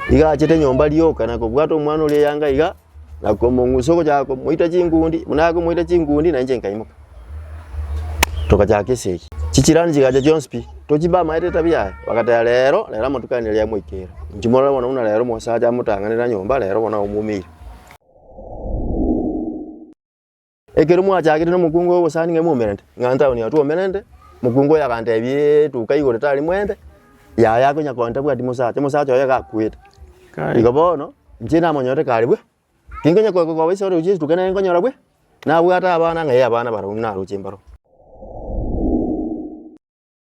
iga achete nyomba rioka na kobwata omwana oria eyanga iga, na komong'usa ogochaka komoita chinkundi, buna akomoita chinkundi na inche nkaimoka. Togachaka esegi, chijirani chigacha chionsi pi, tochimba amaete etabia yaye, bagateba rero, rero amatuko aya nere yamoikera, inche morore bono buna rero omosacha amotang'anera nyomba rero bono aumoumeire. Ekero mwachagete nomokungu ogosani ng'a imwomerente, ng'a ntaoni ya twomerente, mokungu oye agantebi etuka igoro tari mwende, yaya akonya koa ntabwati mosacha, omosacha oye gakwete. Igo bono, inche namonyorete kare bwe, tinkonya koa kogoba ase oroche etuka nere nkonyora bwe, nabwate abana ng'ai abana barabwo naroche mbaro.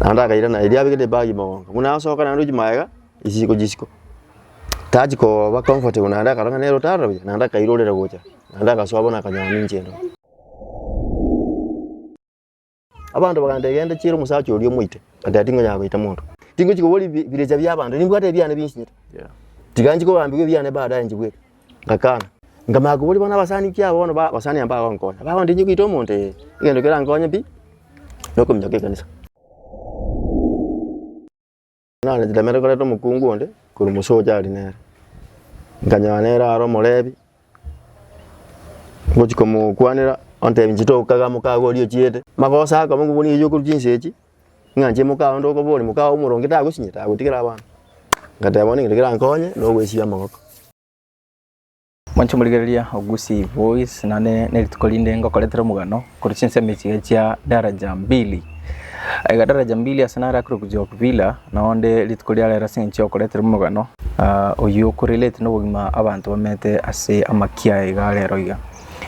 Naende akairana erio abeke nebag mogongo, buna asoka naende ochi magega chisiko chisiko, tachi koba comfortable naende akarora ng'a nere otare buya naende akairorera gocha naende agasoa bono akanyora ninche ero. Abanto bakantebia genda chiira omosacha oria omoite, ngateba tingonyara goita monto, tingochi kobori bi- birecha biabanto, nimbwate ebiane binchinyete, tiga nchi kogambigwa ebiane baadaye nchibweke. Ngakana, nkamanya koboria bono abasani ekiagera bono ba abasani aba mbagonkonya, bagondinyi goita omonto ee, egento kerankonye pi na okominyoka ekanisa. Nare nchitemete koreta omokungu onde korwa Musoja aria nere, nkanyora nere aro omorebi, ngochia komokwanera ontebi inche tokaga mokago oria ochiete, magoso akoba ngokoboni eyio okorwa chinsa echi. Ng'a inche mokaye onde okoboria, mokaye omoronge tagosinyeti, agotigera abana. Ngateba bono egento kerankonye, nogwesibia amagoko. Mwanche morigereria Ogusi Voice, nande nerituko rinde ngokoretera omogano korwa chinsemo echiga chia Daraja Mbili. Aiga Daraja Mbili ase nare akore Bujoki Villa, nao onde rituko ria rero ase eng'encho y'okoretera omogano oyio oko relate nobogima abanto bamenyete ase amaki aya iga rero iga.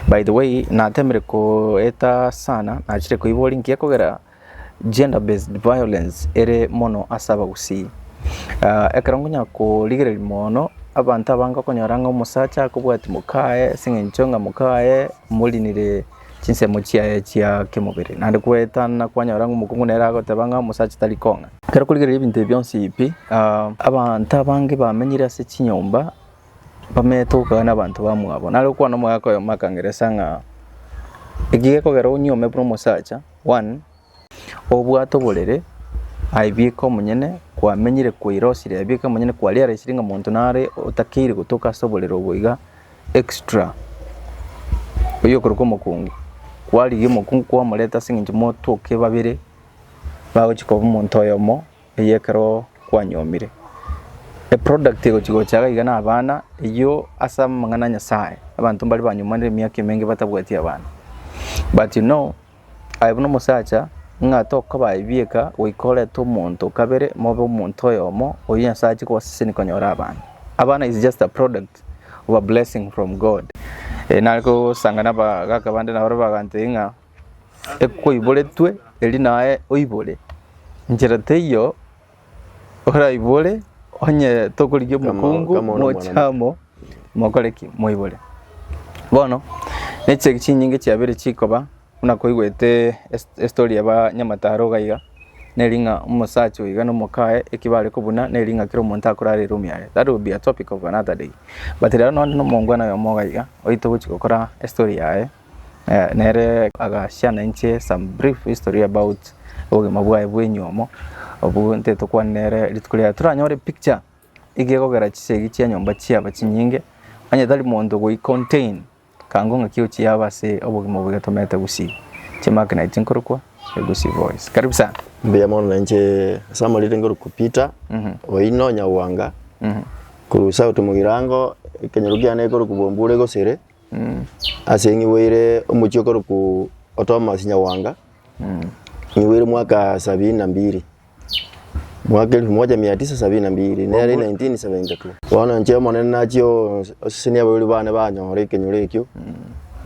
By the way, natemire koeta sana, nachire koiboria inki ekogera Gender-based violence ere mono ase abagusii. Ekero nkonya korigereria mono abanto abange okonyora ng'a omosacha akobwatia moka aye ase eng'encho ng'a moka aye morinire chinsemo chiaye chia kemobere naende koetana kwanyora ng'a omokungu nere agoteba ng'a omosacha tari kong'a. Ekero okorigereria ebinto ebi bionsi pi abanto abange bamenyire ase chinyomba bamenyete gokwana na abanto bamwabo nare okwana omoika oyomo akangeresa ng'a eki gekogera onyuome buna omosacha. One, obwato borere aibeke omonyene kwamenyire kwairosire aibeke omonyene kwaria araisire ng'a monto nare otakeire gotoka ase oborere obo iga extra oyio okorokwa omokungu kwarigia omokungu kwamoreta ase eng'encho motoke babere bagochi koba omonto oyomo. eyio ekero kwanyomire. Eproduct egochia gocha iga na abana, eyio ase amang'ana a Nyasaye, abanto mbare banyomanire emiaka emenge batabwati abana. But you know, aye buna omosacha, ng'a tokoba aye bieka, goika orente omonto o kabere, mobe omonto oyomo, oyio Nyasaye achie kobasesenia konyora abana. Abana is just a product of a blessing from God. Nare kosanga na abagaka bande na barabwo bagantebi ng'a. ekoiboretwe erio naye oibore. Nchera teiyo oraibore onye tokorigia omokungu moche amo mokore ki? Moibore. Bono neche chinyinge chiabere chikoba buna koigwete estory ya banyamataro iga iga neri ng'a omosacha oyo iga na omokaye eki bare kobuna neri ng'a kera omonto akorara eroom yare that will be a topic of another day but rero nonye na omongwana oyomo iga iga oito ogochi gokora estory yaye. Nere agachia na inche some brief history about obogima bwaye bwa enyomo obwo ntete tokwane nere rituko riaye. Toranyore picture iga egokera chisegi chia enyomba chiaba chinyinge onye tari monto goi contain ekango ng'aki ochiaba ase obogima obo getomete gusii chimakina echio nkorokwa Egusi Voice. Karibu sana. Mbuya mono na inche ase amariri ngorokwa Peter Oino Nyawanga korwa south mogirango ekenyoro kiane gekorokwa Bombure Gosere. Ase ng'igweire omochie okorokwa Otomas Nyawanga, ng'igweire mwaka sabini na mbiri, mwaka elfu moja mia tisa sabini na mbiri, nere 1972. Bono inche Omonene nachia osesenia abarwori bane banyore ekenyoro ekio,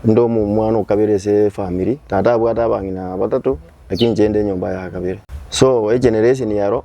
inde omwana o kabere ase efamiri. Tata abwate abang'ina batato, lakini inche inde enyomba ya kabere. So egeneration ero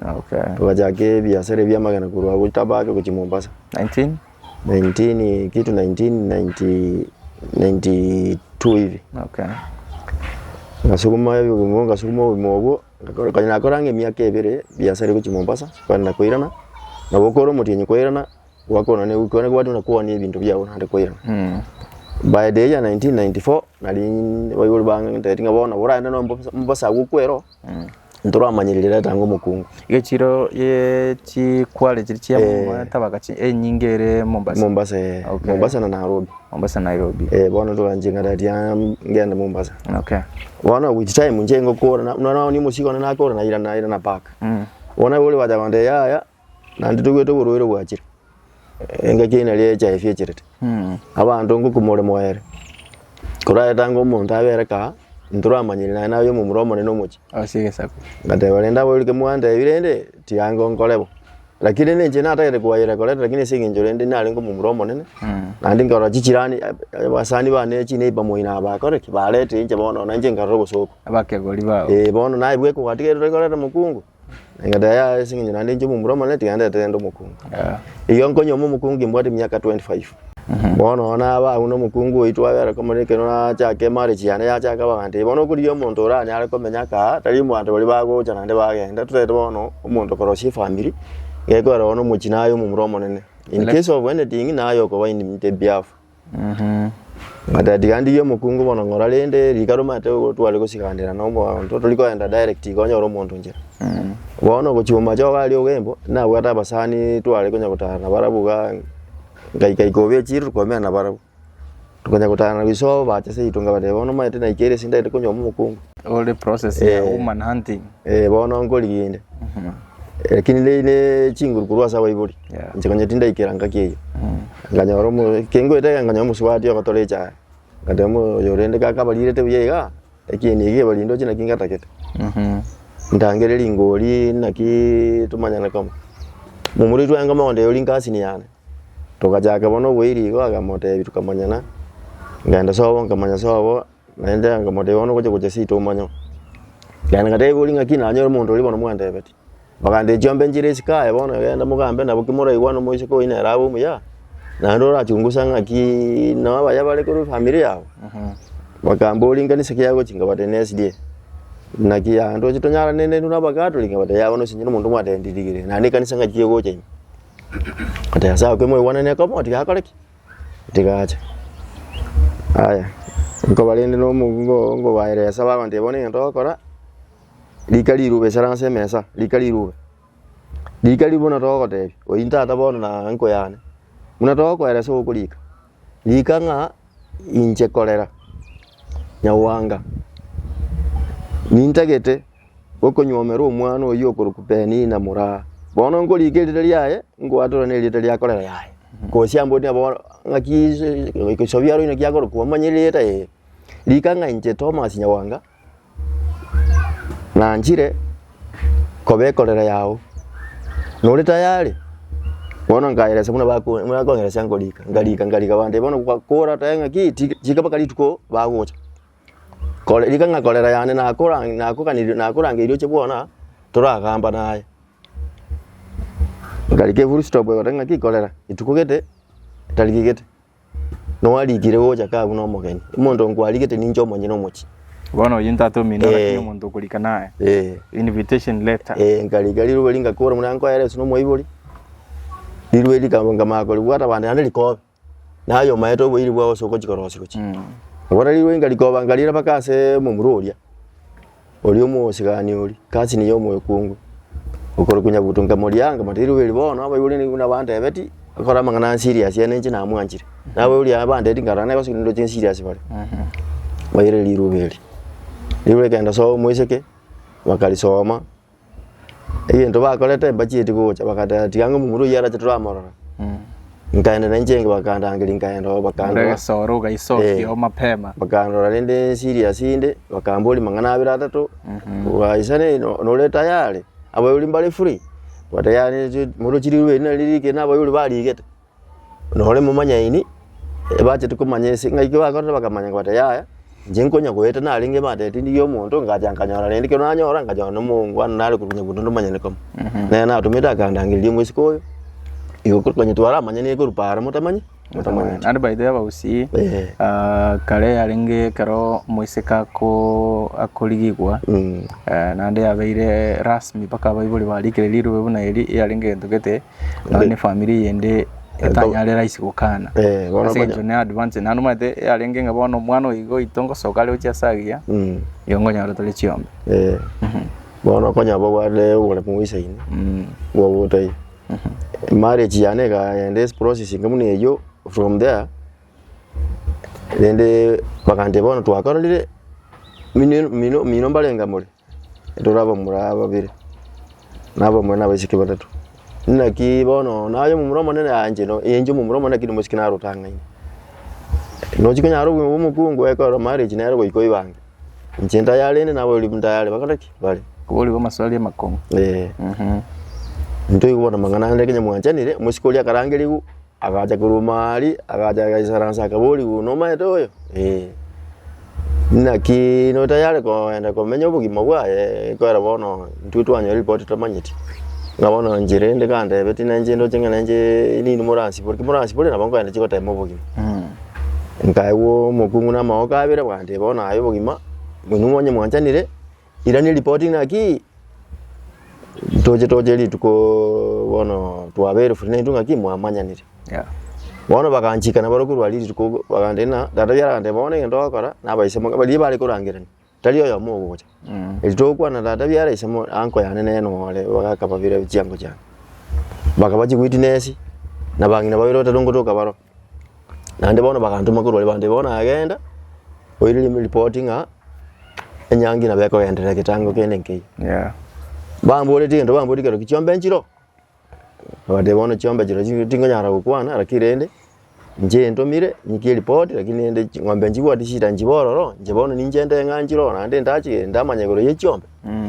Okay. togachaka ebiasara ebi'amagena korwa agwo Tabake gochia Mombasa 19? 19 kitu 1992 hivi Okay. ngasuguma ebigumo obwo ngasuguma obogima obwo ngakora- kare nakoranga emiaka ebere biasara egochia Mombasa kare nakoirana nabo okore omotienyi koirana gwakona ne goika ekero gwateba kwania ebinto biago naende koirana Mm. By the year 1994 nari baibori bang'enteti ng'a bono nabo oraende noyo Mombasa Mombasa agwo okwera oo. Ntoramanyire rireta anga omokungu. Gechiro ye chikware chiri chia Eh. tabaka chi- enyinge ere Mombasa. Mombasa eh. Okay. Mombasa na Nairobi. Mombasa Nairobi. Eh, bono toranche ng'ana eria ngende Mombasa. Okay. Bono with time inche ngokora na- nonye omosigo one nakora naira naira na park. Mm. Bono boria bacha kondebia yaya Naende toigwete oborwaire bwachire, engaki eyio nario echa efiecherete. Abanto ngoku more moere, korwa etange omonto abe ere kaa, ntoramanyire naye naye omomura omonene omochie. Ase egesaku. Ngateba rende abo erike mwantebia rende, tiga ngonkore bo. Lakini rende inche natagete koayera koreta lakini ase eng'encho rende narenge omomura omonene, naende nkarora chichirani abasani bane chineiba moi nabo bakore ki? Barete inche bono na inche nkarora obosooku. Abakegori bao. Eeh bono naye bweka ogatigerire koreta mokungu. Egento yaye ase eng'encho naende inche omomura omone tiga ndete gento omokungu. Igo nkonyomwa omokungu mbwate emiaka 25. Bono nonye naba agwo na omokungu oito agere komorera ekero nachake emarriage yane yachaka bagantebia bono okorigia omonto oranyare komenya aka aa tari abanto baria bagocha naende bagenda totaete bono omonto korosia efamiri gekorera bono omochie naye omomura omonene. In case of anything naye okoba in the behalf. Mata tiga ndigie omokungu bono ng'ora rende rika romate igo tware gosigandera nomonto tori koenda direct iga onyore omonto inchera. Bono ogochia omochoba aria ogembo nabwate abasani tware konya gotara nabo barabwo igaa ngaika ika obe echiiro tokomera na barabwo. Tokonya gotara nabo isobo bacha seito nkabatebia bono omanyete naikire ere ase ndagete konyuoma omokungu. Ore process ya human hunting. Eeh bono nkorigia inde. Lakini ne ne chinguru korwa ase abaibori Yeah. inche konya tindaikera ngaki eyio nkanyora omo kengoeta iga nkanyora omosubati ogotora echae nkateba mo oyo rende kakabarirete buya iga ekieni eke ebari ndoche naki ngatagete ndangere ringori naki tomanyane kamo momura oitwe aye kondeba ori nkasini yane togachaka bono oboiri igo agamotebi tokamanyana ngenda sobo nkamanya sobo. Naende akamotebia, Bono ngochia gocha seito omanye. Naende ngateba, Igori ng'aki nanyore omonto oria bono mwandebetie? Bakambia, Chiombe enchera esiko aye bono, egenda mogambe nabo kimoraigwana omoiseke oyi nere abe omuya, naende orachungusa ng'aki nabaya bare korwa efamiri yabo. Bakambori ng'a nase ki agochia? Nkabatebia, Nesrie. Naki yaya ntoche tonyarane neintwe na Abakatoliki? Nkabatebia, Yaya bono nonye omonto omwatebia ndiirigere, naende ekanisa ng'aki egocha ime? Nkabatebia, Nyasae oke mwaigwanane ekaba, bono tigakore ki? Tiga ache. Aya, nkoba rende nomogugo oo ngobaeresa bagontebia bono egento ogokora, rika riruba isara ase emesa, rika riruba. Rika riruba buna togotebia, oyio ntata bono na uncle yane, buna togokoeresa ogokorika, rika ng'a inche korera, nyagwanga nintagete. gokonyuomerwa omwana oyio okorokwa Penina moraa. Bono nkoriika erieta riaye, nkoatorana erieta ria korera yaye, gose ambotire nabo ng'aki ase egesobi aro inaki akorokwa omanye rieta eye. Rika ng'a inche Thomas Nyawanga, nanchire koba ekorera yao, nore tayari? Bono nkaeresa buna bako buna bakonyeresia nkorika, nkarika nkarika bandebie bono gwa kora tae ng'aki ti chikabaka rituko bagocha. riika ng'a korera yane nakorangeria oche bwona toragamba naye. Okarika efull stop ogoteba ng'aki korera etuko gete tariki gete. Nwarikire gocha ka buna omogeni, omonto nkwarigete ninche omonyene omochie. Bono oyio ntatomino lakini omonto okorika naye. Eeh. Invitation letter. Eeh nkarika rirube ringakora buna nkoyeresiwe nomoibori, rirube rikaba nkamanya koribwata bande naende rikobe. Na aye omaete oboiri bwao ase ogochika rosi gochia. Agora rigweinga rikoba nka rire mpaka ase omomura oria, oria omosigani oria, kasi niye omoekungu, okorokwa Nyabuto. Nkamoria, nkamotebia rirwe eri bono abaibori nigo buna bantebetie, akore amang'ana a serious aya na inche namwanchire. Na abaibori aya bantebetie nkarora nere gose ndoche serious bare. Baira riruba eri. Riruba rikaenda soa omoiseke, bakarisoma. egento bakorete mbachieti gocha bagateba tiga ng'a omomura oyio arache toramorora. Nkaenda nainche enga bakandangeria nkaenda oo bakandora. Oregesoro Eh, ogaisokia o mapema. bakandora rende serious inde bakamboria mang'ana abere atato bwaisane no- nore tayari abauri mbare free, totayari ri- morochi rirube eri nari riri kenda abauri barigete. nore momanyaini, ebacheti komanya ense, ng'ai ki bakorire bakamanya kobata yaya, inche nkonya goeta narenge ebante ya tindi ya omonto, ngacha nkanyora rende ekero nanyora, nkanyora na omoongwana nare korwa Nyabuto onde omonyene kamo. Nere natomete akandangereria omosike oyo, igo ko- konya twaramanyanirie korwa paaro motamanye motamanyeti. Naende by the way abagusii Eh. ah, kare yarenge ekero omoiseke ako akorigigwa naende yabeire rasmi mpaka abaibori barikire rirube buna eri, yarenge egento gete Nonye na efamiri eyende etanyarera ase gokana. Eh, bono Ase konya- eng'encho ne advance naende omanyete yarenge ng'a bono omwana oyo iga oito ngosoka are gochia ase agiya, Mm. igo nkonyora tore chiombe. Eh, bono konya bobwate obore moisaine nigo ogotebi marriage yane ekagenda ase process enke buna eyio from there rende bakantebia bono twakororire mino mino mino mbarenge more Rora abamura aba babere, na abamura nabaiseke batato. Naki bono naye omomura omonene anje no enche omomura omonene lakini omosike nare otang'aine. Nochi konyara obogima bwa omokungu ekorora marriage nere goika oibange. Inche ntayare rende nabo ribu ntayare bakore ki? Bare. Koboria amaswali amakong'u. Eeh. Ntoigwe bono amang'ana ande ekenya mwanchanire, omosike oria akarangerigwa. Agacha korwa omari, agacha agaisaransa akaborigwa, Nomaete oyo? Ee. Naki notayare kogenda komenya obogima bwaye, ekwera bono intwe twanyora ripoti totamanyeti, ng'a bono inche rende kandebe tinanche ndoche ng'a nainche nini moransibore, ki moransibore nabo nkoenda inche gotema obogima. Nkaigwa omokungu na amagoka abere bwanteba bono aye obogima, inwe mwanyanyanire. Irania ripoti naki toche toche rituko bono twabeire free naintwe naki mwamanyanire. Bono baganchika na barokigwa baria rituko bagantebia ng'a tata yare agantebia bono egento ogokora na abaisemo baria bare korangerania tari oyomo ogocha. Eri togokwana tata biara ase mo uncle yane nere nore bagakababira chiango chiane. Bakaba chigwiti nesi na bang'ina babere batato ngotoka baroo. Naende bono bagantoma korwa Libande bono nagenda, oirire ripoti ng'a enyangi nabo ekogenderera egetango kende nkeiyo. Yeah. Bamboreti egento bamboreti kero ki chiombe nchiro, nabatebia bono chiombe chiro chi- tingonyara gokwana naki rende inche entomire nyikie ripoti lakini rende ching'ombe nchibwati shida nchibe ororo, inche bono ninche nde ng'a nchire ororo naende ndache ndamanya igoro ya echiombe.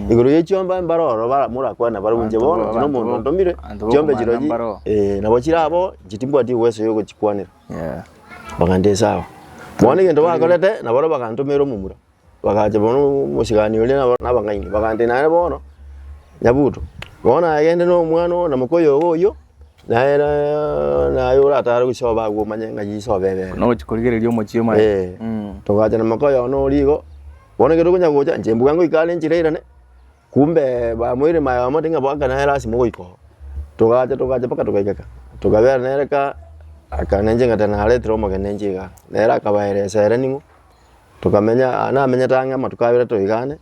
Igoro ye chiomba mbare oro bara- morakwane bare omonche Abanto bono, bo- tino abanto omonto bo- ontomire, abanto bo chiombe okomanya chirochi, mbaro. eh, nabo chire abo, inche timbwati uwezo yo ogochikwanera. Yeah. Baganda ase ago. Bono egento bakorete, nabaria bagantomera omomura, bagacha bono omochegani oria nabo- na abang'aini, bagambia nere bono, nyabuto, bono nagende na omwana oo na moka oyogo oyio, naye na- naye oratare gosoa bago omanye ng'ai isoa bebe ere. Nogochi korigereria omochie omonyene. Eh. Mm. Togacha na moka oyogo noria igo. Bono ekero tokonya gocha, inche mbuya ngoika are enchera irane, kumbe bamoire maye bamotebia ng'a boaka nere lasima ogoika oo. Togacha togacha mpaka togaika ka, tokabera nere ka, akana inche ng'a tari naretire omogeni inche iga. Nere akabaera esere ning'o, tokamenya aa namenyete ang'e amatuko abere toigane,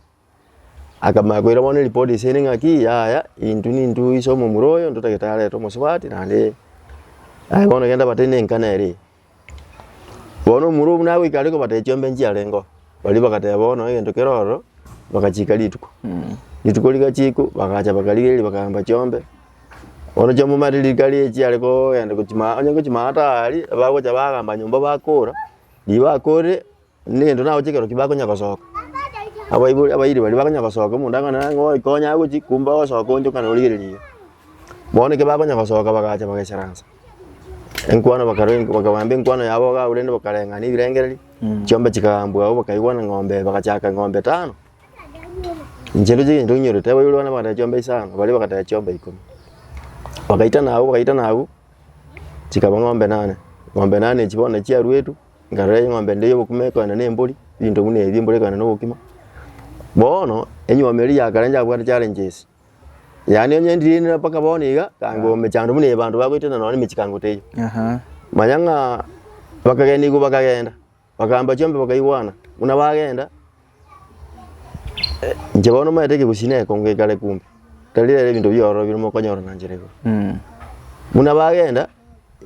akamanya koira bono eripoti ase ere ng'aki, yaya intwe nintwe oise omomura oyo, intwe tagete arete omosubati naende, aye bono genda bataine engane ere. Bono omorwa buna agoika are kobata echiombe nchiarengeo, baria bagateba bono egento kere ororo, bagachiika rituko. Rituko rigachiikwa bagacha bakarigereria bakagamba chiombe, bono chiombe omanyete riri kari echiare kogenda gochia maa onye gochia maa tari, abagocha bagamba nyomba bakora, ribakorire Ningento nago chikero ki bakonya gosoka. Abaibori abairi baria bakonya gosoka omonto akangora ng'a nang'o oyo konya agochie kumbe ogosoka onchokana origereria iga. Bono ekero bakonya gosoka bagacha bagaesaransa enkwano bakarwa enk bakabamba enkwano yabo iga abwo rende bakareng'ana ebirengererio chiombe chikagambwa agwo bakaigwana eng'ombe eye bagachaka eng'ombe etano. Inche ere chigento nkinyorete abaibori bane bagateba chiombe isano baria bagateba chiombe ikomi. Bagaitana agwo bagaitana agwo chikaba ng'ombe nane, ng'ombe nane echio bono nachiaruetwe. Nkarora eng'ombe ende y'obokima ekoenda nembori, ebinto buna ebi embori ekoenda nobokima. Bono enyiomi eria ya kare nchiabwate challenge ase, yaani onye ndirenire mpaka bono iga, kanga omechando buna ebanto bagoetera nonye emechie kanga otaiyo. Aha. Manya ng'a bakagenda igwe bakagenda, bakamba chiombe bakaigwana, buna bagenda. Inche bono omanyete ekegusi na ekongo ekare kumbe, tari rero ebinto biororo bire mokonyora na nchera igoro. Buna bagenda,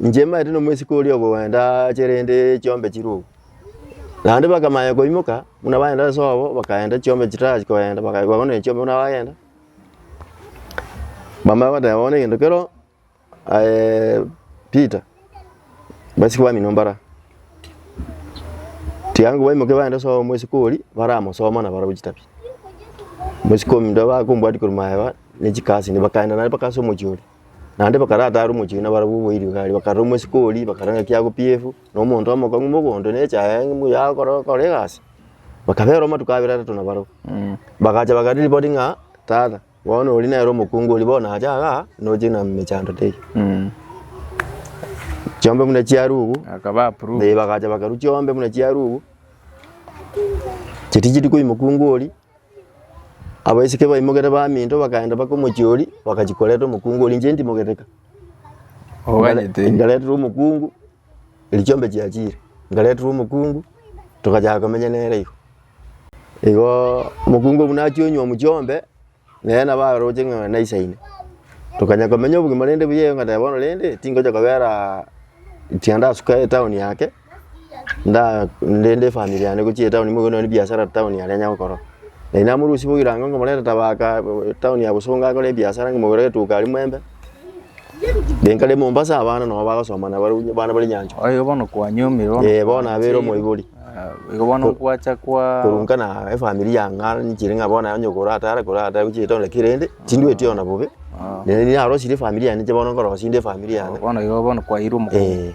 inche manyete na omosike oria okoenda ache rende chiombe chire oo. Naende bakamanya koimoka, buna bagenda ase obo, bakaenda chiombe chitarachi koenda, baka bagonderia chiombe buna bagenda, bamanya goteba bono egento kero. Aye Peter, basike bamino mbara, tiga ngwo baimoke bagende soa omosike oria baramosoma na barabwo chitabi. Omosike ominto bakombwatia korwa maega ne chikasi inde bakaenda naye mpaka ase omochie oria. Naende bakaratare omochie oria na barabwo bo eriogi aria bakarora omosike oria bakarora ng'aki agopiefu na omonto omokong'u mogondo na echaye aye ng'umbu yaye agokora gokora egasi. Bakabera amatuko abere atato na barabwo, bagacha bakarepoti ng'a tata Bono ori nere omokungu oria bono acha iga noche na mechando tei. Chiombe buna chiarugu. Akaba approve. Eh, bagacha bakarwa chiombe buna chiarugu. Chitichiri kori mokungu oria. Abaiseke baimogete baminto bakaenda baka omochie oria bakachi koreta omokungu oria inche ntimogete ka. Oganyete. Inkareterwa omokungu. Erio chiombe chiachiire, nkareterwa omokungu, togachaka komenya nere igo. Igo omokungu buna achia onywa mu chiombe, nere nabo aroche ng'a naisaine. Tokanya komenya obogima rende buya iga ngateba bono rende tingocha kobera tiga ndasuka etown yake, nda rende efamiri yane gochia etown nigo nonye ebiasara town yane enya gokora. Nari namorusia boirango ngomoreta Tavaka town ya Bosongo akore ebiasara ng'omogorere etuka aria Mwembe. Renta ria Mombasa abana nabo bagosoma na barobwo abana bare nyanchwa. Oye bono kwanyomire bono. Eh, bono abere omoibori. Ah, Igo bono Ko- gwacha kwa Korunka na efamiri ya ng'a nchire ng'a bono onye okora atare kora atare gochia etondo ki rende, tindweti ona bobe. Ah. Rende narosirie efamiri yane inche bono nkorosia inde efamiri yane. bono igo bono kwairwe omoka. Eh.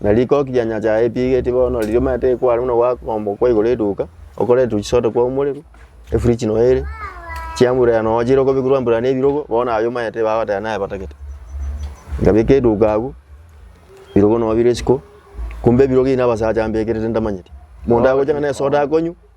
Na rikoki ria nyasae yaepigeti bono riria omanyete ekware buna gwakombwa kwa igoro eduka, okore etuchisoda twago omorero, efridge noyo ere, chiamburera nonya chire okobekwa rwamburera na ebirogo, bono aye omanyete bagoteba naye batagete. Nkabeka eduka agwo, ebirogo nonya bire isiko, kumbe ebirogo ebi na abasacha mbekerete ntamanyeti. Monto agocha ng'a na esoda akonywa,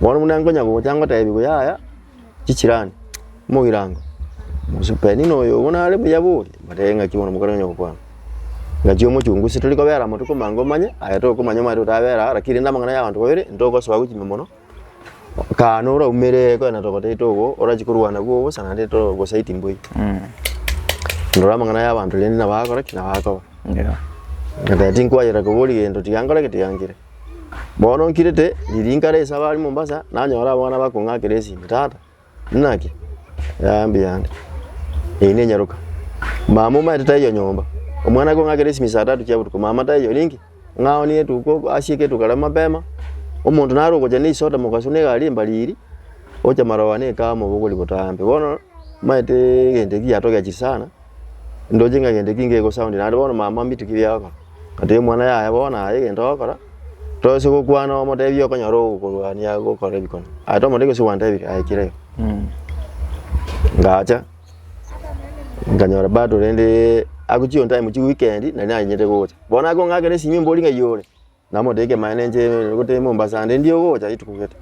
Bono buna nkonya gocha ngotebiwe yaya chichrani, mogirango, gose Penina oyo obo nare buya boria, mbare ee ng'aki bono mokare onye gokwana. Ng'aki omochungu ase tori kobera moto komanya ngomanye, aye tokomanya omanyete otabera aa, rakini rende amang'ana ya abanto babere, ntogosoa gochia ime mono, kaa noro aumere konya na togotaete obo, orachi korwana nabwo obosa naende to gosaiti mbwe. Ndora amang'ana ya abanto rende nabo agokora ki? Nabo akoba. Ngoteba tinkwayera kobori gento, tiga nkore ki? Tiga nkire. Bono nkirete ririnka rese abare Mombasa, nanyora abana bakong'akera esimi, tata, inaki? Yaya mbuya ande, eyi nenyaroka. Mama omanyete taiyo nyomba, omwana akong'akera esimi saa tatu chia botuko, mama taiyo orinki? Ng'a one etuko ase egetuko kare mapema, omonto nare ogocha na esoda mogaso na egari embariri, ocha maroba na ekahawa mobogori botambe. Bono omanyete egento ekio giatogechirie sana. ndoche ng'a egento ekio nkegosoundia, naende bono mama mbituki ebi agokora, ngatebia omwana yaya bono aya egento ogokora, toise gokwana omotebie okonyora ogokorwania gokora ebikone, aye tomotebia gose gwantebire aye kira iga. Ngacha nkanyora bado rende agochia on time chia weekend nari nanyarete gocha, bono akong'akera esimi mbori ng'a iyore. Namotebi kemanya nenche gotee Mombasa naende ndie ogocha rituko gete.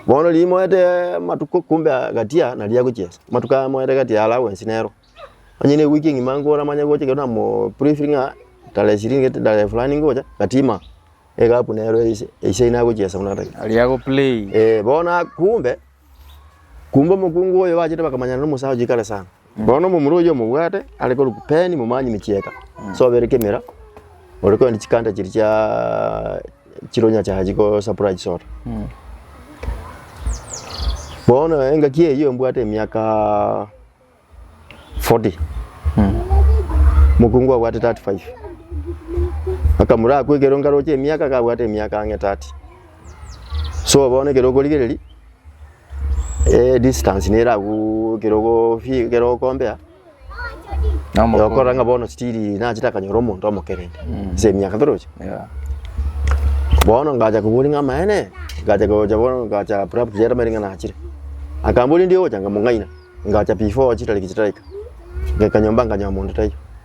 Bono riria moete amatuko kumbe gatia naria agochiesa. Amatuko aya moete gati ya allowance nero. Onye ne ewiki engima nkore amanye gocha ekero na mo brief ng'a tarehe ishirini gete tarehe fulani ngocha gatima. Egap nero eise eise ina agochiesa buna gete. Aria ago play. Eeh bono a kumbe, kumbe omokungu oyo bachete bakamanyana na omosacha oikare sana. Bono omomura oyio omobwate are korwa Kupeni momanye emechieta, ase obere kemera, ore korende chikanta chiria chia chire onye acha achi ko supply chisoda. Bono engaki eyio mbwate emiaka forty, mokungu abwate thirty five, akamura akwa ekero nkaroche emiaka akabwate emiaka ang'e thirty. So bono ekero okorigereria. Eh distance nere aguu ekero ogofi ekero okombea, okorora ng'a bono still nache takanyora omonto omokereri, ase emiaka toroche. Yeah. Bono ngacha koboria ng'a amaene, ngacha gocha bono ngacha prapra chiaye tamaete ng'a nachire. Akamboria ndiogocha ng'a mong'aina, ngacha before chitariki chitaraika, ngaika nyomba nganyora monto taiyo.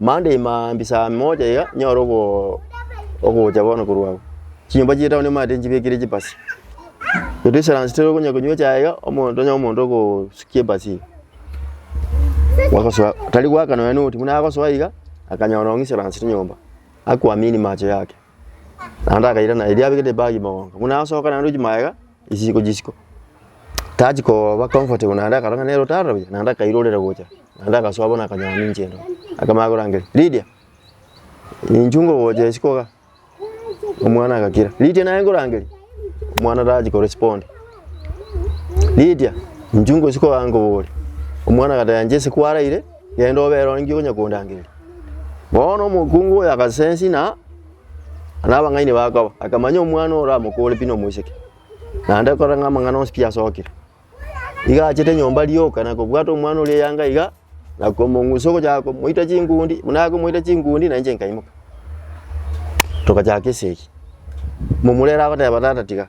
Monday ime mambia saa moja iga nyore ogo ogocha bono korwa agwo. Chinyomba chia etown nimaete nchibekire chibasi. Ere distance toro okonya konywa echae iga, omonto onye omonto ogosukia ebasi iga, ogosoa tari goakana nonya noti buna agosoa iga, akanyora nonye distance ri nyomba, akwamini mache yake. Naende akairana erio abeke nebag mogongo, buna asoka naende ochia magega chisiko chisiko, tachi koba comfortable naende akarora ng'a nere otare buya, naende akairorera gocha, naende agasoa bono akanyora ninche ero, akamanya korangeria, Lydia, inchuo ngogocha isiko iga, omwana agakira, Lydia naye nkorangeria, omwana tachi ko respond, Lydia, inchuo ngosiko iga nkoboria, omwana agateba inche ase kwaraire. Genda obe ronge onye kondangeria. Bono omokungu oyo agasensi na nabang'aini bakoba, akamanya omwana ore amokore pi nomoiseke, naende kora ng'a amang'ana onsi pi asokire. Iga achete nyomba rioka na kobwata omwana oria eyanga iga, na komong'usa ogochaka komoita chingundi, buna akomoita chingundi na inche nkaimoka. Togachaka esegi. Momura ere agoteba tata tiga.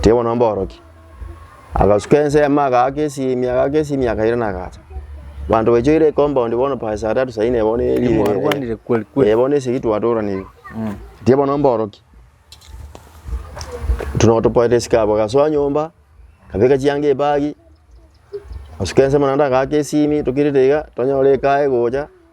Teibono mborokia. Agasuka ensemo agaaka esiimi agaaka esiimi akaira na agacha. Banto baichoire compound bono by saa tatu saa inne bono eeri Nimwarwanire kweli kweli. Eh bono esegi twatoranire. Tie bono mborokia. Tuno topoete esika abo gasoa nyomba kabeka chianga ebagi. Asuka ensemo naende agaaka esiimi tokirete iga tonyora ekae gocha.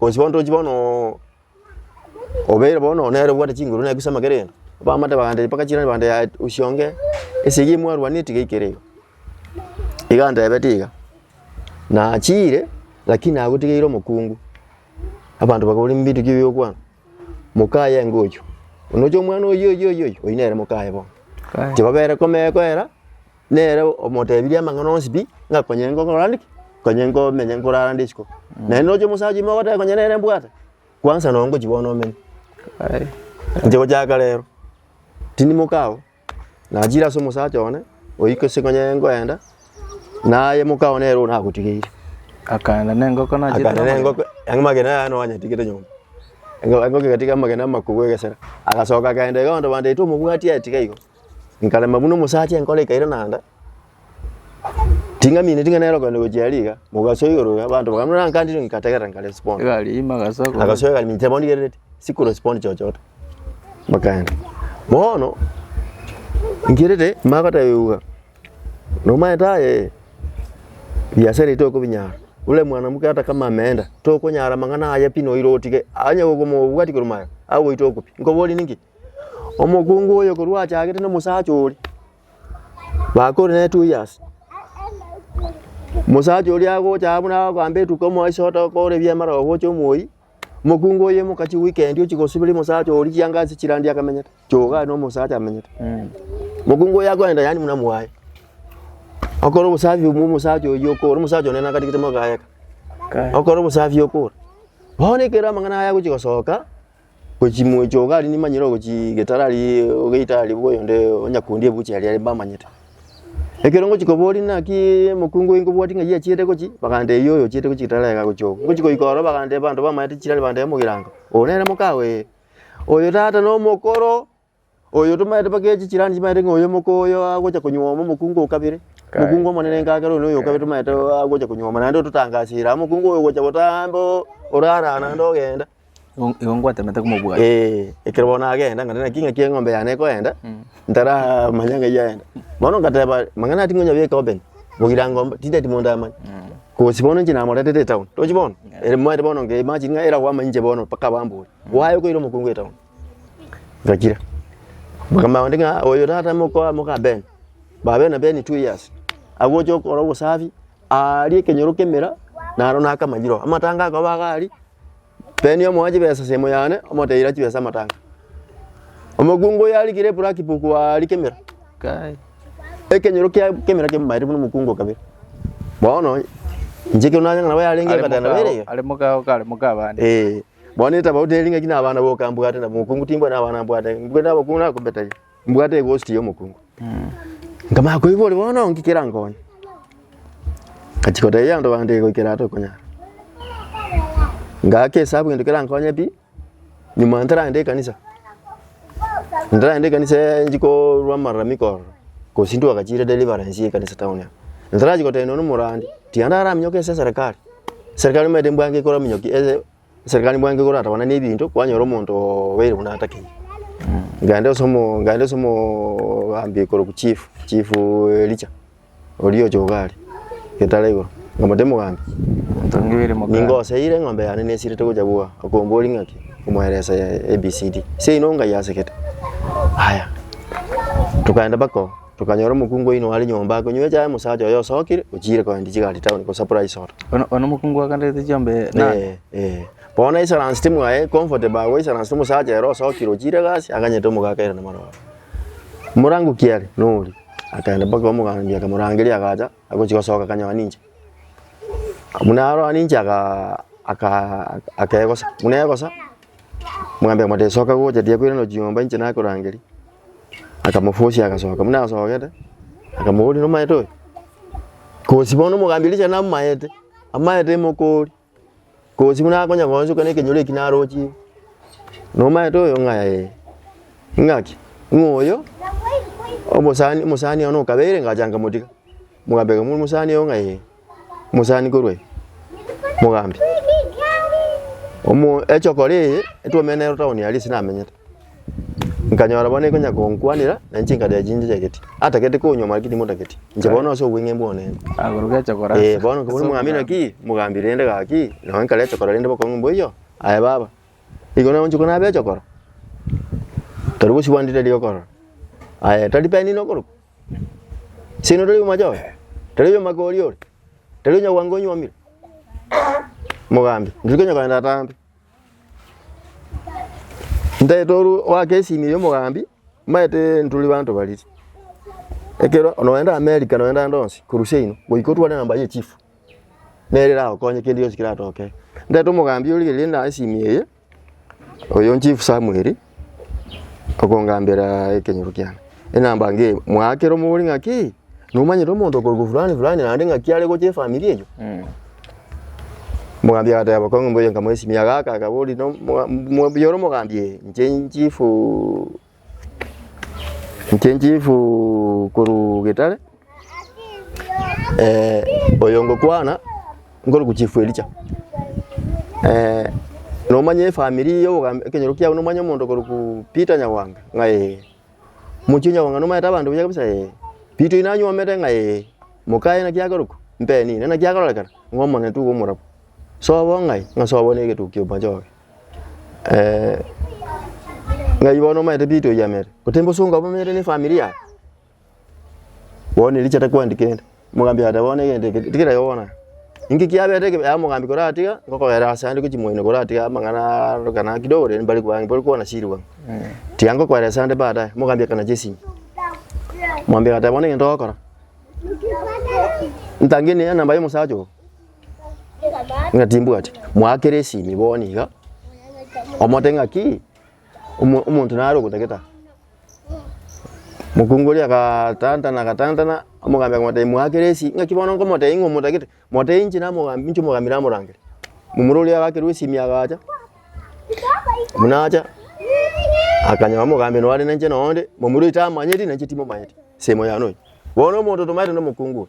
Bonsi bono tochi bono obeire bono nere obwate chinguru naye kusama kere gento. Bamate bagantebia mpaka chirani bagantebia yaya usi onge ase egia mwarwanire tiga aikere iga. Iga antebete iga. Nachiire lakini nagotigeire omokungu. Abanto bakabora mbinto ki biokwana. Mokaye enga oyio. Nonya omwana oyio oyio oyio oyio nere mokaye bono. Tibabere komekoera. Nere omotebirie amang'ana onsi pi, ng'a konya ingo nkore naende ki? Konya ingo menye nkorara ande isiko. Naende noche omosacha ime ogoteba konya nere mbwate, kwansa nonye ngochia bono omenye. Inche gochaka rero, tindimoka abwo, nachire ase omosacha one, oike ase konya ngoenda, naye moka one ere nagotigeire. Akaenda na engoko nachire Akaenda na engoko, amagena yaye nonye anyetigete nyomba. Engo engoko egatiga amagena amakugu egesera. Agasoka akaenda iga abanto bande eti omobwati aye tiga igo. Nkarema buna omosacha enkoro ekaira naende, ting'amineti ng'a nere okogenda gochia aria iga, mogasoa igoro iga, abanto bakabora buna nankandire nkategerera nkarespond. Egari ime agasa korwa. Agasoa egari minche bono rigereretie, sikorespond chochote, bakaenda. Bono, nkerete mba ngotebiwa, nomaete aye ee, ebiasara ebi tokobinyara, ore mwanamuke ata kama ameenda, tokonyara amang'ana aye pi noira otige, onye gokomo bwati korwa magega, agoite okopia. Nkoborie ninki? Omokungu oyo korwa achagete nomosacha oria, bakore naye two years. Omosacha oria agocha buna agoamba etuko omoa ase otokore ebiama aro ogocha omoyia, omokungu oyo omoka chiweekend ochia gosibera omosacha oria chiangasi chirande akamenyete, choga aye na omosacha amenyete. Omokungu oyo akoenda yaani buna mwaye, okore obosafi bwa omosacha oyio okore, omosacha one nakatigete mogaye aka, okore obosafi okore. Bono ekero amang'ana aya agochia gosoka. Gochia moecho iga aria nimanyire ogochia getara aria ogeita aria bwoyo onde onya kundi ebuchi aria aria mbamanyete. Ekero ngochia koboria naki emokungu eye nkobwatia ng'a eyio achiete gochia, baganda eyio oyo ochiete gochia getara iga gochia oo. Ngochia goika ororo baganda abanto bamaete chirari baganda mogirango, oyo nere mokawe ee, oyo tata nomokoro. Oyo tomaete baka echi chirandi chimaete ng'a oyomoka oyo agocha konyuoma omokungu o kabere, Kae. omokungu omonene enka kere oyo na oyo o kabere tomaete agocha konyuoma, naende ototangasiire amo, omokungu oyo ogocha gotaha ande oo orara naende ogenda. Igo igo ngwatemete komobua. Eeh, ekero bono nagenda ng'a naki naki eng'ombe yane ekoenda, ntaramanya ng'ai yaenda. Bono ngateba amang'ana aya tingonyabeka open, ogirango mb- tindeti monto amanye. Gose bono inche namoretete etown, tochi bono? Ere moete bono ngeimagine ng'a eragwo amainche bono mpaka abambore, gwaye okoira omokungu etown. Gakira. Bakama onde ng'a oyo tata mokoa moka Ben. Ba Ben na Ben two years. Agocha okora obosafi, aaria ekenyoro kemera, naro nakama yiro. Amatanga akoba iga aria, Ben omoa chibesa sehemu yane, omoteira chibesa amatanga. Omokungu oyo arikire eblack book aria kemera, kai, ekenyoro kia kemera kemamaete buna omokungu o kabere. Bono, inche ekero nanyora nabo yarenge Are ebatana moka- bere iga. are moka- kare moka abande. Eeh. Bono etabauti eri ng'aki nabana boka mbwate na bomokungu timbwa nabana mbwate mbwe nabokungu nakombetaye mbwate egosti y'omokungu nkamanya koigwa ore bono ng'iki kerankonye ngachia kotebia abanto bande goikera aa tokonyara ngaka esabu gento kerankonye pi nyuma ntaragende ekanisa ntaragende ekanisa eh, nchi korwa amalalamiko ororo gose ntwagachiire deliverance y'ekanisa town aa ntarachia gotebia nonya na omorwandi tiga ndaraminyoka ense ya serikali Serikali nimaete mbwango ekore ominyoki ase serikali mbwango ekore gatabanana ne ebinto kwanyora omonto oo obeire buna atakeire. Nkaenda ase omo nkaenda ase omo ogambi korokwa chief chief Elicha oria oche iga are getare igoro nkamotebia mogambi Tongire moka. ningo oseire eng'ombe yane nesirete gocha bwa okombori ng'aki omoeresa ABCD seino ongayi asegete aya tokaenda baka oo. Tokanyora omokungu oino are nyomba akonywa echae, omosacha oye osokire, ochiire kogenda chigari town gosapora isoro. Ono ono mokungu aganderete chiombe Eh, nande. eh. Bono naisaransete mwaye comfortable agwo aisaransete omosacha ere osokire ochiire egasi aganyete omogaka ere namororo. Morango ki are? Noria. Akagenda mpaka kwa omogambi akamorangeria agacha agochi gosoka akanyoa ninche. Buna aroa ninche agaa akaa akegosa, buna egosa. Mwambia mote, Soka gocha, tiyakoiraneria chiyomba inche nakorangeria. Akamofosia agasoka. Buna asogete, akamoboria, Nomaete oyo? Kosi bono omogambi Elisha namomaete, amaete emokori. Kosi buna akonya goanchoka na ekenyoro eki narochire. Nomaete oyo? Ng'a ee. Ng'aki? Ng'a oyo omosani, omosani one okabeire, ngacha ngamotiga. Omogambi akamoboria, Omosani oyo? Ng'a ee. mosanikorwe mogambi. Omo echokora eye etwaumire nero town aria ase namenyete, nkanyora bono ekonya konkwanera na inche nkarera chinse chiageti. Atagete konywa maki timotageti, inche bono nase obweng'e mbwane. Agoruga echokora ase- Eh, bono ase nkabora omogambia omogambi. naki mogambi rende gaki, nonye nkare echokora rende bokong'u mboiyo, aye baba. Igo nagoncha kona abe echokora, tari gosibwa ndire rigokorora, aye tari penina okorokwa. Sino tari omochore, tari omakori ore, tari onyagwango onyuomire. Mogambi, ndiri konya kogenda atambe. Ntae toru oake esimi ya omogambi, maete nturi banto bariri. Ekero nogenda America nogenda ande onsi korwa seino, goika otware namba ya echifu, nere eragokonye kende gionsi keratoke. Ntaete omogambi ore riria naye esimi eye. Oyo nchifu Samweli okongambera ekenyoro kiane, enamba nge mwakera omogori ng'aki nomanyete omonto okorokwa fulani fulani naende ng'aki are gocha efamiri eyio. Omogambi agateba kong'u mbuya nkamoesimia gaka akabori no- mo- mo- mbuya ore omogambi ee inche inchifu. Inche nchifu korwa Getare, oyo ngokwana nkorokwa chief Elijah. nomanya efamiri ya obogambi ekenyoro kiabo nomanye omonto okorokwa Peter Nyawanga? Ng'a ee. Omochie o Nyawanga nomanyete abanto buya kabisa? Ee. Peter oyio nanyuomete? Ng'a ee. Mokaye naki akorokwa? Mpenine. Naki akororekana? Ng'a omonene taiga omorabwo. Sobo ng'ai? Ng'a sobo negetukia omochie oke. eh, ng'ai bono omaete pi toyamere, goteba bosongo abwo bamere ne efamiri yaye, bono erio chiato kwandika ende, omogambi agateba bono egento eke tigira igo bono aa. Inki kiabete eke yaya omogambi koratiga, ngokogera ase ande gochia moino koratiga amang'ana aroka na kidogo rende mbare kobaa mbare kobana chiribwa. Tiga ngokoera ase ande baadaye, omogambi akanacha esimi, omogambi agateba bono egento ogokora, ntange enamba ya omosacha oo. ng'a timbwati mwakera esimi bono iga omote ng'aki omo- omonto nare ogotagete aa. Mokungu oria agatantana agatantana omogambi akamotebia mwakera esi ng'aki bono nkomotebia ng'a omotagete motebia inche namogambi inche omogambi namorangere. Momura oria agakerwa esimi agacha buna acha akanyora omogambi nore ninche nonde momura oito amanyeti nainche timomanyeti semo yane oyo. Bono omonto otomaete nomokungu oyo.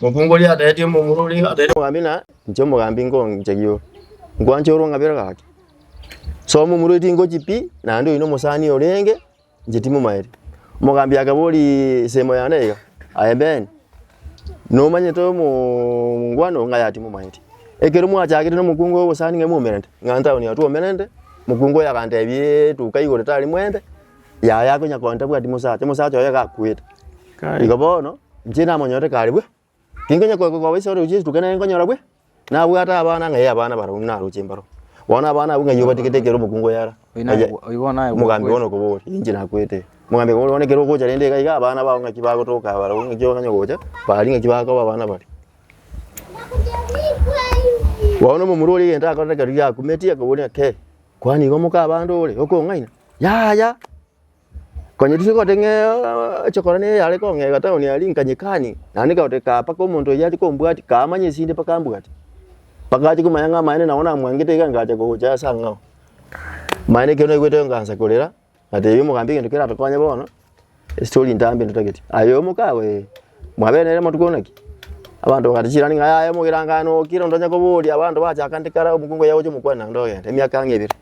Mokungu oria atenetie omomura oria, atenetie omogambi, na inche omogambi nkonchegio nkwanche orong'abera gake. So omomura oyo tingochi pi, naende oyo nomosani orenge, inche timomaeti. Omogambi akabori ensemo yane iga, aye Ben, nomanyete omongwana oo ng'a aye timomaeti. Ekero mwachagete nomokungu ogosani ng'a momerente, ng'a ntaoni aa twomerente, mokungu oyo agantebi etuka igoro tari mwerente, yaye akonya kogenda tabwati mosacha, mosacha oye iga akwete. Kai. Igo bono, inche namonyorete kare bwe, tinkonya ko- ko- koba ase oroche rituko nere nkonyora bwe, nabwate abana ng'ai abana barabwo naroche mbaro. Bono abana abwo ng'ai obatigete ekero omokungu oye ara. Oyi naye Aye- bwa- oyi bono naye bwa- Mogambi bono okobori, inche nakwete. Mogambi okobori bono ekero ogocha rende iga iga abana bao ng'aki bagotoka barabwo ng'aki okanye gocha, bari ng'aki bakoba abana baria. Bono omomura oria egento akorire ekero riakumeti akoboria kei. Kwanigo mokabande ore okong'aina, Yaya! Konya riria ogote ng'a echokora neye yare kong'ega town aria nkanyekani, naende nkagote kaa mpaka omonto oyio aria kombwatia, kamanya esinde mpaka ambwate. Mpaka ache komanya ng'a amaene nabo namwangete iga nkacha gocha ase ang'ao. Amaene ekero naigwete igo nkaansa korera. Ngatebia omogambi egento keratokonye bono, estori ntambe ndotagete. Aye omokabo ee, mwabere nere amatuko buna ki? Abanto bagata chirani ng'a yaya omogerangano oo kera onde onye koboria abanto bachaka nde kare omokungu oye agocha omokwane naende ogende, emiaka ang'e ebere.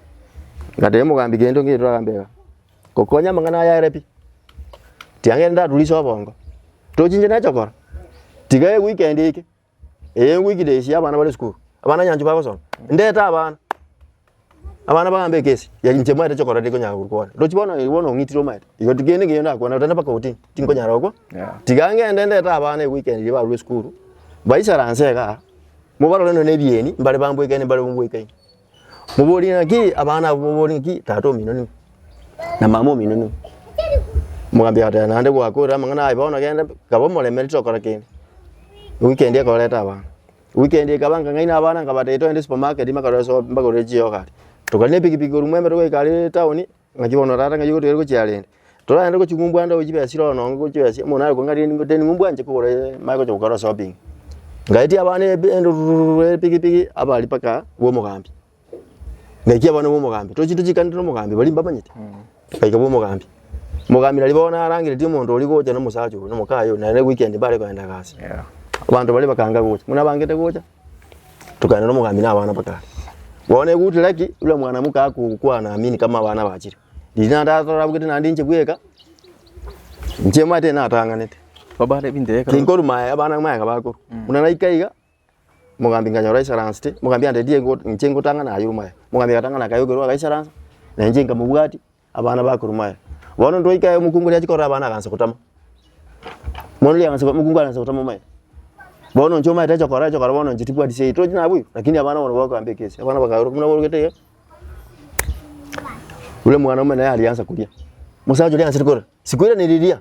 Ngatebia omogambi gento nkeire toragambe iga, ngokonye amang'ana aya are pi, tiga ngende ndaturisie obongo, tochinche neche okora, tiga eye weekend eke Eye ngwikire esi y'abana bare esukuru. Abana nyanchwa bagosoma. Ndete abana. Abana bagambe ekesi. Ya inche mwerete chokora riri konyara korwa kwane. Rochi bono igo bono ong'itire omanyete. Igo ti kende keiyo ndakwana otana mpaka otini. Tinkonyara gokwa. Yeah. Tiga ngende ndete abana igo goikera barwe esukuru. Baisaranse igaa. Mobarore nonya na ebieni mbare bamboikaine mbare bombwoikaini. Moborie ng'aki abana abwo moborie ng'aki tata omino nigo, na mama omino nigo. Omogambi agateba naende gwakorire amang'ana aye bono genda, kaba omoremeri tokora kende. Ewiki endi ekoreta abana, ewiki endi ekaba nkang'aina abana nkabatebia togende supermarket bakarore so mbagorere chiogo aria. Tokagenda nepikipiki korwa Mwembe togoika aria etown. Ng'aki bono tata ng'ai ogotigari gochia are ere? Toragende gochia ng'umbuande aye chibesa chire ono onge gochia oyase muna are kong'aria ring'o teni ng'umbu anche kogora ee mare gochia gokora shopping. Ngaetia abana ebi endururururu epigipigi abari mpaka bwa omogambi. Ngaikia abana bwa omogambi, tore chinto chiikanete na omogambi baria mbamanyete. Ngaika bwa omogambi, omogambi nari bono narangereti omonto oria gocha na omosacha oria na omokaye oria naende weekend mbare kogenda egasi. Abanto baria bakanga gocha, buna abangete gocha. Tokaenda nomogambi na abana bakare. Bono egutire haki, buna mwanamuke agokwana amini kama abana bachire. Riria naende atore abugete naende inche bweka, inche omanyete natang'anete. Babare ebinto ekero Tinkorwa maega, abana maega bakorwa. Buna naika iga, mogambi nkanyora aisaransete, mogambi andeti ego inche ngotang'ana aye ore maega. Mogambi agatang'ana akayokerwa agaisaransa, na inche nkamobwatia, Abana bakoruma aye. Bono ntwaika aye omokungu riachi korora abana agansa gotama. Bono riagansa gotama omokungu agansa gotama omaete. Bono inche omaete acha kora acha kora bono inche tibwati sei tochi nabo iga lakini abana bono bagokamba ekesi. Abana bakaoroka buna baorokete iga. Ore mwana omene aria agansa koria. Mosacha oria agansa korora. Sikoirana riria.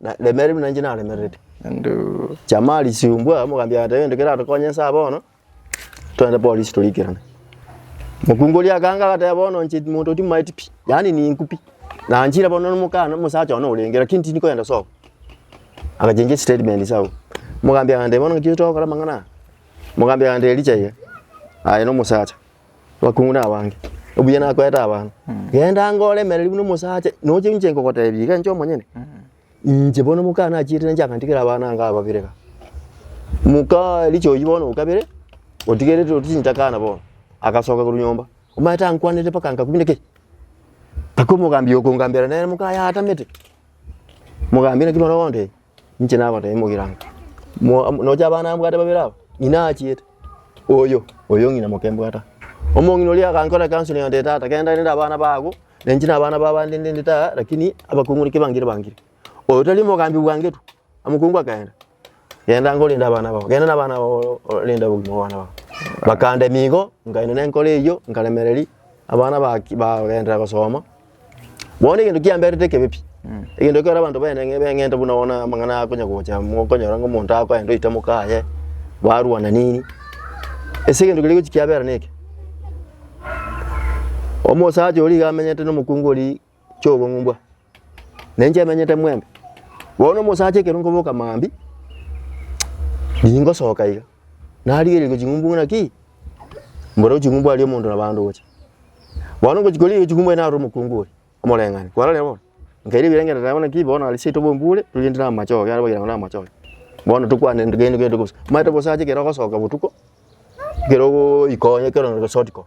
Na remererwe buna inche naremererete. Naende Chamari siumbwa mogambi agoteba egento keratokonye nsa bono, togende polisi torikerane. Mokungu oria akanga agateba bono inche monto oyo timaeti pi, yaani ninku pi. Na nchire bono na omokana omosacha one orenge lakini tindi kogenda sobo. Agachengia estatement ase agwo. Mogambi agantebia bono ng'aki ore togokora amang'ana aya? Mogambi agantebia richa iga, aye na omosacha. Abakungu nabange, obuya nakoete abanto. Genda ang'e oremereri buna omosacha, noche inche nkogotebia iga inche omonyene, inche bono omoka nachiete ninche akantigera abana ango ababere iga. Moka Elisha oyio bono o kabere, otigerete orusie inche akana bono, agasoka korwa nyomba, omanyete ankwanete mpaka nkakunda ki? Mpaka omogambia okongambera nere moka yatamete. Mogambi naki bono ogondebia? Inche nagoteebia mogirango, mo- mo- nocha abana mbwate babere aba, ng'ina achiete, oyo, oyo ng'ina moke mbwate aa. Omong'ina oria agankora counselling agantebia, tata genda rende abana bago, na inche na abana ba abande ndende tara, rakini abakong'u naki bangire bangire. Oyo tari omogambi bwangetwe, omokungu akaenda, genda ngore rende abana bao, genda na abana bao oo rende obogima bwa abana bao. Bakandemia igo, nkaenda nenkoro eyio, nkaremereria, abana baki bagenderera gosoma. Bono egento kiamberete ekebe pi, egento ekero abanto baene ng'e- beng'enta buna bono amang'ana aya akonya gocha, mokonyora ng'a omonto akoenda oite mokaye, barwana nini, ase egento keria gochia kiabera neke. Omosacha oria iga amenyete na omokungu oria chiobong'umbwa, na inche emenyete mwembe. Bono omosacha ekero nkoboka mambia, ningosoka iga. narigereirwe ching'umbu ng'a ki? Mboreo ching'umbu aria omonto na bande ogocha. Bono ngochi korigereria ching'umbu aye narora omokungu oria, omoreng'anio, kwarorire bono? Nkaira ebirengererio naende bono ki? Bono aria seito bombure, togende na amache ogo, yarabagera ng'a na amache ogo. Bono tokwane togende togende bosa. Omanyete gose ache ekero ogosoka botuko, ekero ogoika onye ekero onye gose otiko.